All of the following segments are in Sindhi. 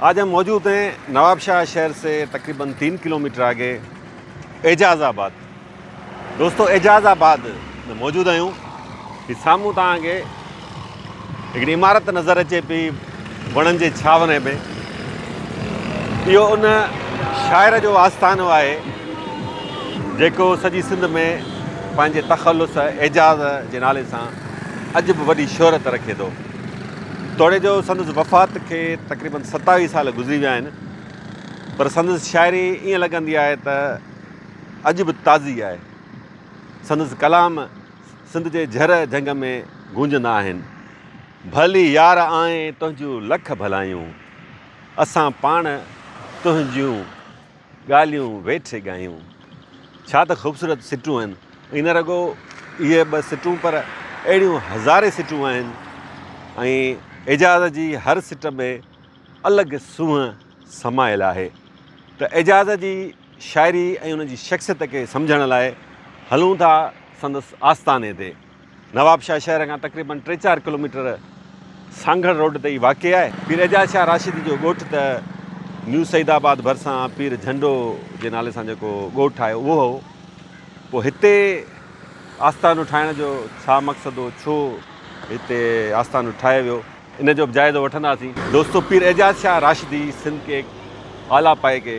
آج هم موجود هين نواب شاهه شهر سي تقريبا تين کلوميٽر آگي اعجاز آباد دوستو اعجاز آباد ۾ موجود آهيون هي سامهون توهان کي هڪڙي عمارت نظر اچي پي وڻن جي ڇانوري ۾ اهو ان شاعر جو آستانو آهي جيڪو سڄي سنڌ ۾ پنهنجي تخلص اعجاز جي نالي سان اڄ به وڏي شهرت رکي ٿو توڙي جو سندس وفات کي تقريبن ستاويهه سال گذري ويا آهن پر سندس شاعري ائين لڳندي آهي ته اڄ به تازي آهي سندس ڪلام سنڌ جي جهر جهنگ ۾ گونجندا آهن ڀلي يار آئين تنهنجون لک ڀلايون اسان پاڻ تنهنجون ڳالهيون ويٺي ڳايون. ڇا ته خوبصورت سٽون آهن. ۽ نه رڳو اهي ٻه سٽون پر اهڙيون هزارين سٽون آهن ۽ اعجاز جي هر سٽ ۾ الڳ سونهن سمايل آهي. ته اعجاز جي شاعري ۽ ان جي شخصيت کي سمجهڻ لاء هلون ٿا سندس آستاني تي. نوابشاهه شهر کان تقريبن ٽي چار ڪلوميٽر سانگهڙ روڊ تي ئي واقع آهي. پير اعجاز شاهه راشدي جو ڳوٺ ته نيو سعيد آباد ڀرسان پير جهنڊو جي نالي سان جيڪو ڳوٺ آهي اهو هو. پوء هتي آستانو ٺاهڻ جو ڇا مقصد هو؟ ڇو هتي آستانو ٺاهيو ويو؟ ان جو به جائزو وٺنداسين. دوستو پير اعجاز شاهه راشدي سنڌ ڪي اعليٰ پايي ڪي.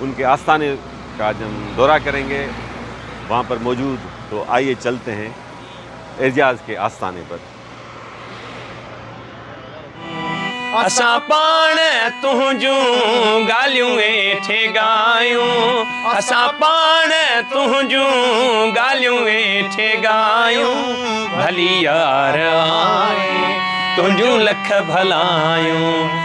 ان ڪي آستاني ڪا جم دورا ڪرين گي وهان پر موجود تو آئيي چلتي هين اعجاز ڪي آستاني پر. اسان پاڻ تنهنجون ڳالهيون ويٺي ڳايون اسان پاڻ تنهنجون ڳالهيون ويٺي ڳايون ڀلي يار آئي تنهنجون لک ڀلايون.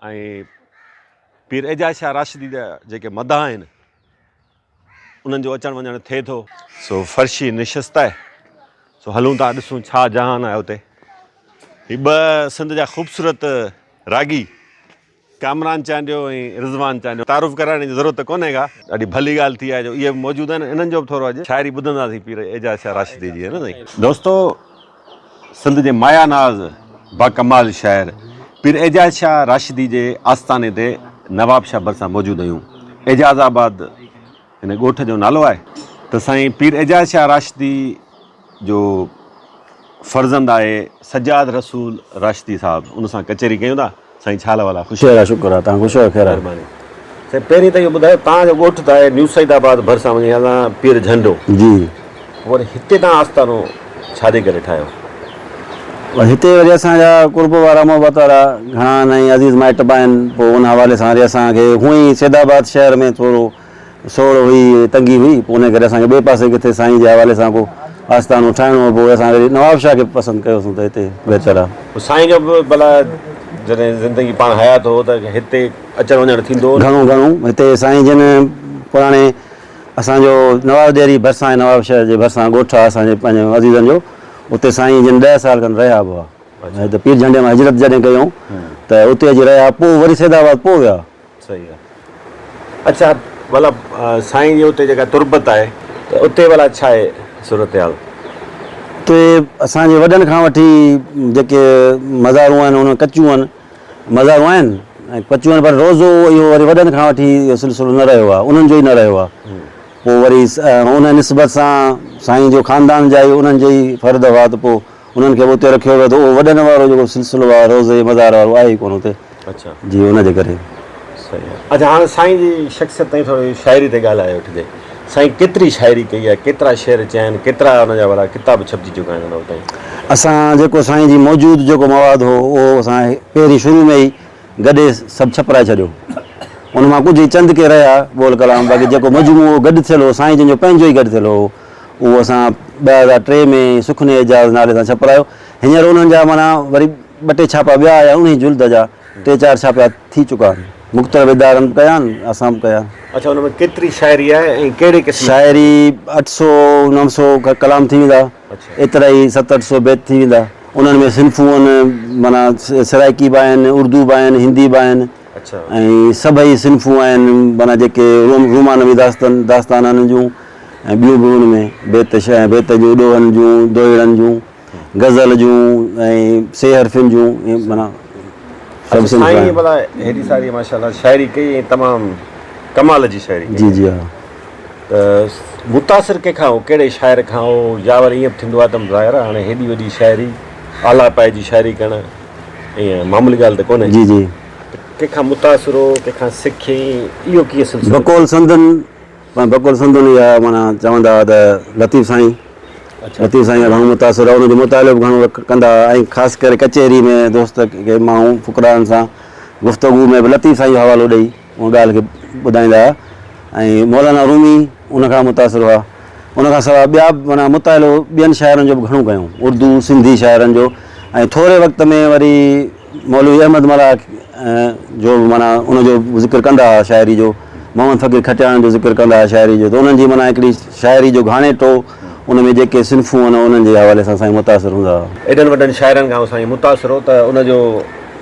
۽ پير اعجاز شاهه راشدي جا جيڪي مداح آهن، انهن جو اچڻ وڃڻ ٿئي ٿو. سو فرشي نشست آهي، سو هلون ٿا ڏسون ڇا جهان آهي اتي. هي ٻه سنڌ جا خوبصورت راڳي ڪامران چانڊيو ۽ رضوان چانڊيو تعارف ڪرائڻ جي ضرورت ته ڪونهي ڪا. ڏاڍي ڀلي ڳالهه ٿي آهي جو اهي به موجود آهن، انهن جو به ٿورو اڄ شاعري ٻڌنداسين پير اعجاز شاهه راشدي جي. ها نه سائين. دوستو! سنڌ جي مايا ناز باڪمال شاعر پير اعجاز شاهه راشدي جي آستاني تي نواب شاهه ڀرسان موجود آهيون. اعجاز آباد هن ڳوٺ جو نالو آهي ته سائين پير اعجاز شاهه راشدي جو فرزند آهي سجاد رسول راشدي صاحب ان سان ڪچهري ڪيون ٿا. سائين ڇا حال احوال آ؟ شهر آ شڪر آ تان خوش آهيو خير آ. مهرباني سائين پهرين ته اهو ٻڌايو تان جو ڳوٺ ته آهي نيو سعيد آباد ڀرسان وڃي هلان پير جهنڊو جي وري هتي تان آستانو ڇا جي ڪري ٺاهيو؟ هتي وري اسان جا قرب وارا محبت وارا گهڻا نئين عزيز مائٽ به آهن پوء ان حوالي سان وري اسان کي هونئن ئي سيد آباد شهر ۾ ٿورو سوڙ هئي ۽ تنگي هئي، پوء انهيء ڪري اسان کي ٻئي پاسي ڪٿي سائينء جي حوالي سان ڪو آستانو ٺاهڻو هو. پوء اسان وري نوابشاهه کي پسند ڪيوسون ته هتي بهتر آهي. پوء سائين کان به ڀلا جڏهن زندگي پاڻ حيات هو ته هتي اچڻ وڃڻ ٿيندو هو نه؟ گهڻو گهڻو. هتي سائين جن پراڻي اسان جو نواز ڏيري ڀرسان ۽ نوابشاهه جي ڀرسان ڳوٺ آهي اسان جي پنهنجن عزيزن جو، اتي سائين جن ڏهه سال کن رهيا به هئا. ۽ هتي پير جهنڊي مان هجرت جڏهن ڪيائون ته اتي اچي رهيا، پوء وري سيدآباد پوء ويا. صحيح آ اچا ڀلا سائين جي اتي جيڪا تربت آهي ته اتي ڀلا ڇا آهي صورتحال. اتي اسان جي وڏن کان وٺي جيڪي مزارون آهن انهن ڪچيون آهن مزارون آهن ۽ ڪچيون آهن پر روزو اهو وري وڏن کان وٺي اهو سلسلو نه رهيو آهي انهن جو ئي نه رهيو آهي پوء وري انهن نسبت سان سائين جو خاندان جا ئي انهن جي ئي فرد هئا ته پوء انهن کي به اتي رکيو ويو ته اهو وڏن وارو جيڪو سلسلو آهي روضي مزار وارو آهي ئي ڪونه اتي جي ان جي ڪري. صحيح آهي اچا هاڻ سائين جي شخصيت تائين ٿوري شاعري تي ڳالهه آئي وٺجي سائين ڪيتري شاعري ڪئي آهي ڪيترا شعر چيا آهن ڪيترا ان جا وڏا ڪتاب ڇپجي چڪا آهن ان وقت اسان جيڪو سائين جي موجود جيڪو مواد هو اهو اسان پهرين شروع ۾ ئي گڏي سڀ ڇپرائي ڇڏيو ان مان ڪجهه ئي چند ڪي رهيا بول ڪلام باقي جيڪو مجموعو گڏ ٿيل هو سائين جن جو پنهنجو ئي گڏ ٿيل هو اهو اسان ٻه هزار ٽي ۾ سخن اعجاز نالي سان ڇپرايو. هينئر انهن جا معنيٰ وري ٻه ٽي ڇاپا ٻيا آيا انهيء جلد جا ٽي چار ڇاپا ٿي چڪا. مختلف ادارن به ڪيا آهن اسان به ڪيا. اڇا ان ۾ ڪيتري شاعري آهي ۽ ڪهڙي قسم جي؟ شاعري اٺ سؤ نو سؤ ڪلام ٿي ويندا. ايترا ئي ست اٺ سؤ بيت ٿي ويندا. انهن ۾ صنفون آهن معنيٰ سرائيڪي به آهن، اردو به آهن، هندي به آهن. ۽ سڀئي صنفون آهن معنيٰ جيڪي رومانوي داستان داستان آهن ان جون ۽ ٻيون به ان ۾ بيت شعر ۽ بيت جون ڏوهن جون دوهيڙن جون غزل جون ۽ سي حرفين جون ائين معنيٰ سڀ صنف سائين آهن. ڀلا هيڏي ساري ماشاءالله شاعري ڪئي ۽ تمام ڪمال جي شاعري ڪئي جي جي ها. ته متاثر ڪنهن کان هئو ڪهڙي شاعر کان هئو يا وري ائين به ٿيندو آهي ته ظاهر آهي هاڻي هيڏي وڏي شاعري اعليٰ پايي جي شاعري ڪرڻ ائين معمولي ڳالهه ته ڪونهي. جي جي. ڪنهن کان متاثر هو، ڪنهن کان سکيائين، اهو ڪيئن سلسلو ٿيو؟ بقول سندن، بقول سندن هي آهي معنيٰ چوندا هئا ته لطيف سائين، لطيف سائين کان گهڻو متاثر هئا، ان جو مطالعو به گهڻو ڪندا هئا ۽ خاص ڪري ڪچهري ۾ دوست ڪي ماڻهو فقراءن سان گفتگو ۾ به لطيف سائين جو حوالو ڏئي، ان ڳالهه کي ٻڌائيندا هئا ۽ مولانا رومي ان کان متاثر هئا. ان کان سواء ٻيا به معنيٰ مطالعو ٻين شاعرن جو به گهڻو ڪيائون، اردو، سنڌي شاعرن جو ۽ ٿوري وقت ۾ وري مولوي احمد ملاح جو به معنيٰ ان جو ذڪر ڪندا هئا شاعري جو، محمد فقير کٽياڻ جو ذڪر ڪندا هئا شاعري جو ته انهن جي معنيٰ هڪڙي شاعري جو گهاڻيٽو ان ۾ جيڪي صنفون هئن انهن جي حوالي سان سائين متاثر هوندا هئا. ايڏن وڏن شاعرن کان هو سائين متاثر هو ته ان جو.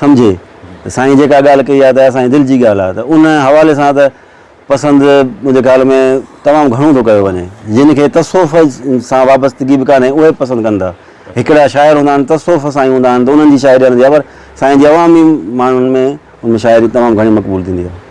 سمجهي ته سائين جيڪا ڳالهه ڪئي آهي ته اسان جي دل جي ڳالهه آهي ته ان حوالي سان ته پسند منهنجي خيال ۾ تمام گهڻو ٿو ڪيو وڃي جن کي تصوف سان وابستگي به ڪانهي اهي به پسند ڪن ٿا هڪڙا شاعر هوندا آهن تصوف سان ئي هوندا آهن ته انهن جي شاعري هلندي آهي پر سائين جي عوامي ماڻهن ۾ ان شاعري تمام گهڻي مقبول ٿيندي آهي.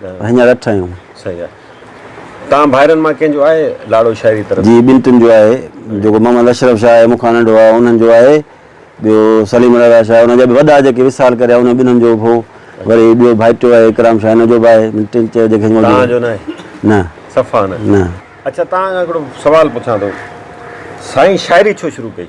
هڃر اٺ آهيون. صحيح آهي. توهان ڀائرن مان ڪنهن جو آهي لاڙو شاعري طرف؟ جي ٻن ٽن جو آهي. جيڪو محمد اشرف شاهه آهي مون کان ننڍو آهي انهن جو آهي. ٻيو سليم رضا شاهه انهن جا به وڏا جيڪي وصال ڪريا انهن ٻنهن جو به هو. وري ٻيو ڀائٽيو آهي اڪرام شاهه ان جو به آهي. ٻن ٽن چئي جيڪي موجود آهن. توهان جو ناهي؟ نه. صفا نه. نه. اڇا توهان کان هڪڙو سوال پڇان ٿو. سائين شاعري ڇو شروع ڪئي؟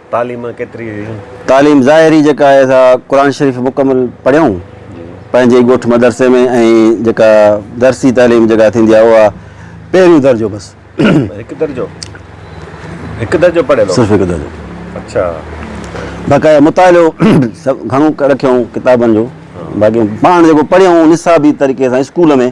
تعليم ڪيتري هئي؟ تعليم ظاهري جيڪا آهي سا قرآن شريف مڪمل پڙهيائون پنهنجي ئي ڳوٺ مدرسي ۾ ۽ جيڪا درسي تعليم جيڪا ٿيندي آهي اها پهريون درجو بس. هڪ درجو؟ هڪ درجو پڙهيل هو؟ صرف هڪ درجو. اڇا. باقاعده مطالعو گهڻو رکيائون ڪتابن جو باقي پاڻ جيڪو پڙهيائون نصابي طريقي سان اسڪول ۾.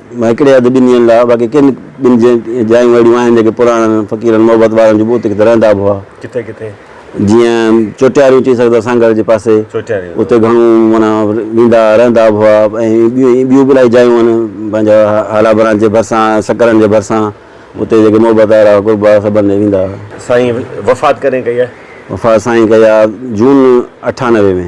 هڪڙي هنڌ ٻن ڏينهن لاء، باقي ڪن ٻن جايون اهڙيون آهن، جيڪي پراڻن فقيرن محبت وارن جي ٻوٽ ڪٿي رهندا به هئا. ڪٿي ڪٿي؟ جيئن چوٽياريون چئي سگهندا سانگهڙ جي پاسي. چوٽياريون. اتي گهڻو معنيٰ ويندا رهندا به هئا ۽ ٻيون ٻيون به الائي جايون آهن پنهنجا هالا برانچ جي ڀرسان سڪرن جي ڀرسان اتي جيڪي محبت وارا قرب وارا سڀ هنڌ ويندا هئا. سائين وفات ڪڏهن ڪئي آهي؟ وفات سائين ڪئي آهي جون اٺانوي ۾.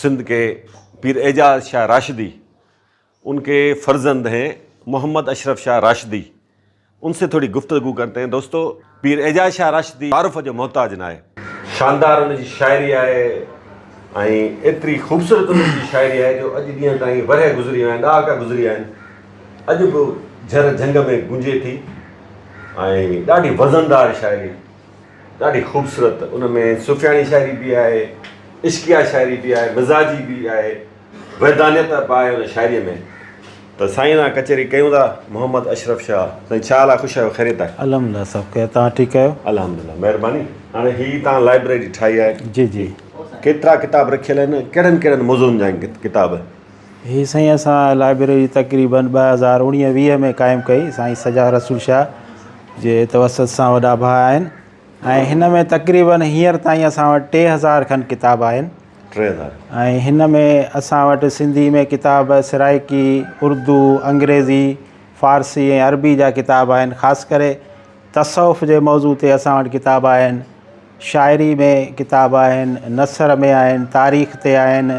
سنڌ ڪي پير اعجاز شاھ راشدي ان ڪي فرزند ھين محمد اشرف شاھ راشدي ان سي ٿوري گفتگو ڪرتي ھين دوستو پير اعجاز شاھ راشدي تعارف جو محتاج ناھي شاندار ان جي شاعري آھي ۽ ايتري خوبصورت ان جي شاعري آھي جو اڄ ڏينھن تائين ورھيه گذري ويا آھن ڏھاڪا گذري ويا آھن اڄ به جھر جھنگ ۾ گونجي ٿي ۽ ڏاڍي وزندار شاعري. ڏاڍي خوبصورت ان ۾ صوفياڻي شاعري به آهي عشقيا شاعري به آهي مزاجي به آهي ويدانيت به آهي ان شاعري ۾ ته سائين سان ڪچهري ڪيون ٿا محمد اشرف شاهه سائين ڇا حال آهي خوش آهيو خيريت آهي الحمدلله سڀ خير تان ٺيڪ آهيو الحمدلله مهرباني هاڻي هي تان لائبريري ٺاهي آهي جي جي ڪيترا ڪتاب رکيل آهن ڪهڙن ڪهڙن موضوعن جا آهن ڪتاب هي سائين اسان لائبريري تقريباً ٻه هزار اوڻيهه ويهه ۾ قائم ڪئي سائين سجاد رسول شاهه جي توسط سان وڏا ڀاء آهن ۽ هن ۾ تقريباً هينئر تائين اسان وٽ ٽي هزار کن ڪتاب آهن ٽي هزار ۽ هن ۾ اسان وٽ سنڌي ۾ ڪتاب سرائيڪي اردو انگريزي فارسي ۽ عربي جا ڪتاب آهن خاص ڪري تصوف جي موضوع تي اسان وٽ ڪتاب آهن شاعري ۾ ڪتاب آهن نثر ۾ آهن تاريخ تي آهن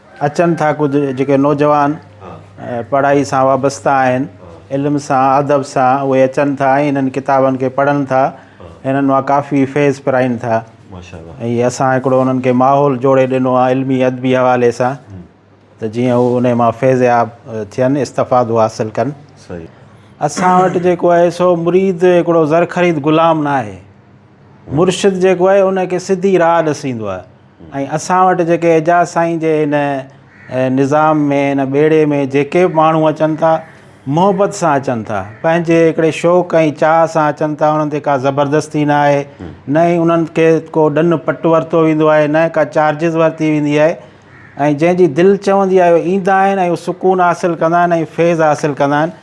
اچن ٿا ڪجهه جيڪي نوجوان پڙهائي سان وابسته آهن علم سان ادب سان اهي اچن ٿا ۽ انهن ڪتابن کي پڙهن ٿا انهن مان ڪافي فيض پرائن ٿا ۽ اسان هڪڙو انهن کي ماحول جوڙي ڏنو آهي علمي ادبي حوالي سان ته جيئن هو انهي مان فيضياب ٿين استفادو حاصل ڪن اسان وٽ جيڪو آهي سو مريد هڪڙو زرخريد غلام ناهي مرشد جيڪو آهي ان کي سڌي راهه ڏسيندو آهي ۽ اسان وٽ جيڪي اعجاز سائين جي هن نظام ۾ هن ٻيڙي ۾ جيڪي به ماڻهو اچن ٿا محبت سان اچن ٿا پنهنجي هڪڙي شوق ۽ چاهه سان اچن ٿا انهن تي ڪا زبردستي نه آهي نه ئي انهن کي ڪو ڏن پٽ ورتو ويندو آهي نه ڪا چارجز ورتي ويندي آهي ۽ جنهن جي دل چوندي آهي اهي ايندا آهن ۽ سڪون حاصل ڪندا آهن ۽ فيض حاصل ڪندا آهن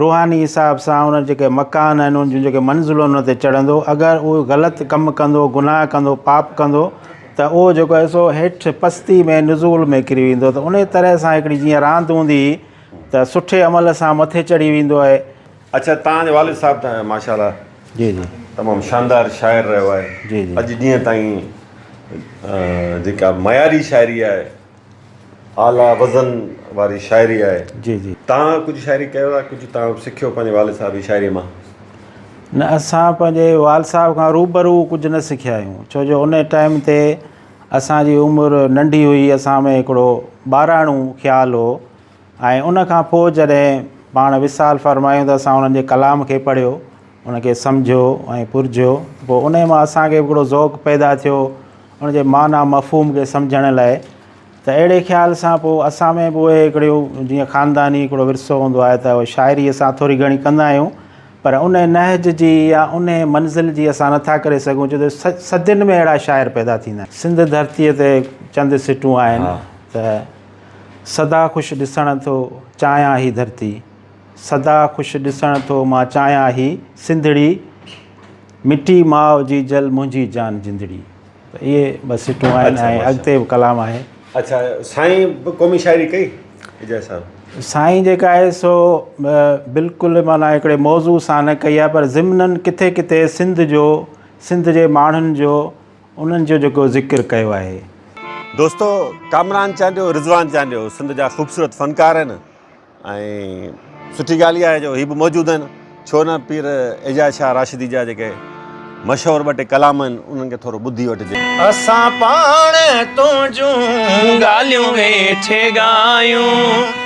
روحاني حساب سان ان جيڪي مڪان آهن ان جون جيڪي منزلون ان تي چڙهندو اگر اهو غلط ڪم ڪندو گناهه ڪندو پاپ ڪندو ته اهو جيڪو آهي سو هيٺ پستي ۾ نزول ۾ ڪري ويندو ته ان طرح سان هڪڙي جيئن راند هوندي هئي ته سٺي عمل سان مٿي چڙهي ويندو آهي اڇا توهان جو والد صاحب ته ماشاء الله جي جي تمام شاندار شاعر رهيو آهي جي جي اڄ ڏينهن تائين جيڪا معياري شاعري آهي اعليٰ وزن واري شاعري آهي. جي جي. توهان ڪجهه شاعري ڪيو آهي ڪجهه توهان سکيو پنهنجي والد صاحب جي شاعري مان. نه اسان پنهنجي وال صاحب کان روبرو ڪجهه نه سکيا آهيون ڇو جو ان ٽائيم تي اسان جي عمر ننڍي هئي اسان ۾ هڪڙو ٻاراڻو خيال هو ۽ ان کان پوء جڏهن پاڻ وصال فرمايون ته اسان انهن جي ڪلام کي پڙهيو، ان کي سمجهيو ۽ پرجهيو ته پوء انهيء مان اسان کي به هڪڙو ذوق پيدا ٿيو ان جي معنيٰ مفهوم کي سمجهڻ لاء ته اهڙي خيال سان پوء اسان ۾ به اهي هڪڙيون جيئن خانداني هڪڙو ورثو هوندو آهي ته شاعري اسان ٿوري گهڻي ڪندا آهيون پر ان نهج جي يا ان منزل جي اسان نه ٿا ڪري سگهون ڇو ته صدين ۾ اهڙا شاعر پيدا ٿيندا آهن. سنڌ ڌرتيء تي چند سٽون آهن ته. سدا خوش ڏسڻ ٿو چاهيان هي ڌرتي سدا خوش ڏسڻ ٿو مان چاهيان هي سنڌڙي مٽي ماء جي جل منهنجي جان جندڙي اهي بس سٽون آهن ۽ اڳتي به ڪلام آهي اچھا سائين به قومي شاعري ڪئي اجاز صاحب سائين جيڪا آهي سو بلڪل معنيٰ هڪڙي موضوع سان نه ڪئي آهي پر ضمنن ڪٿي ڪٿي سنڌ جو سنڌ جي ماڻهن جو انهن جو جيڪو ذڪر ڪيو آهي. دوستو ڪامران چانڊيو رضوان چانڊيو سنڌ جا خوبصورت فنڪار آهن ۽ سٺي ڳالهه آهي جو هي به موجود آهن ڇو نه پير اعجاز شاهه راشدي جا جيڪي مشهور ٻه ٽي ڪلام آهن انهن کي ٿورو ٻڌي وٺجي. اسان پاڻ تنهنجون ڳالهيون ويٺي ڳايون.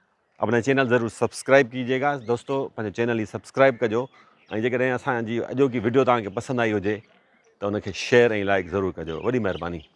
اپنا چينل ضرور سبسڪرائب ڪيجي گا دوستو پنهنجو چينل هي سبسڪرائب ڪجو ۽ جيڪڏهن اسان جي اڄوڪي وڊيو توهان کي پسند آئي هجي ته ان کي شيئر ۽ لائڪ ضرور ڪجو وڏي مهرباني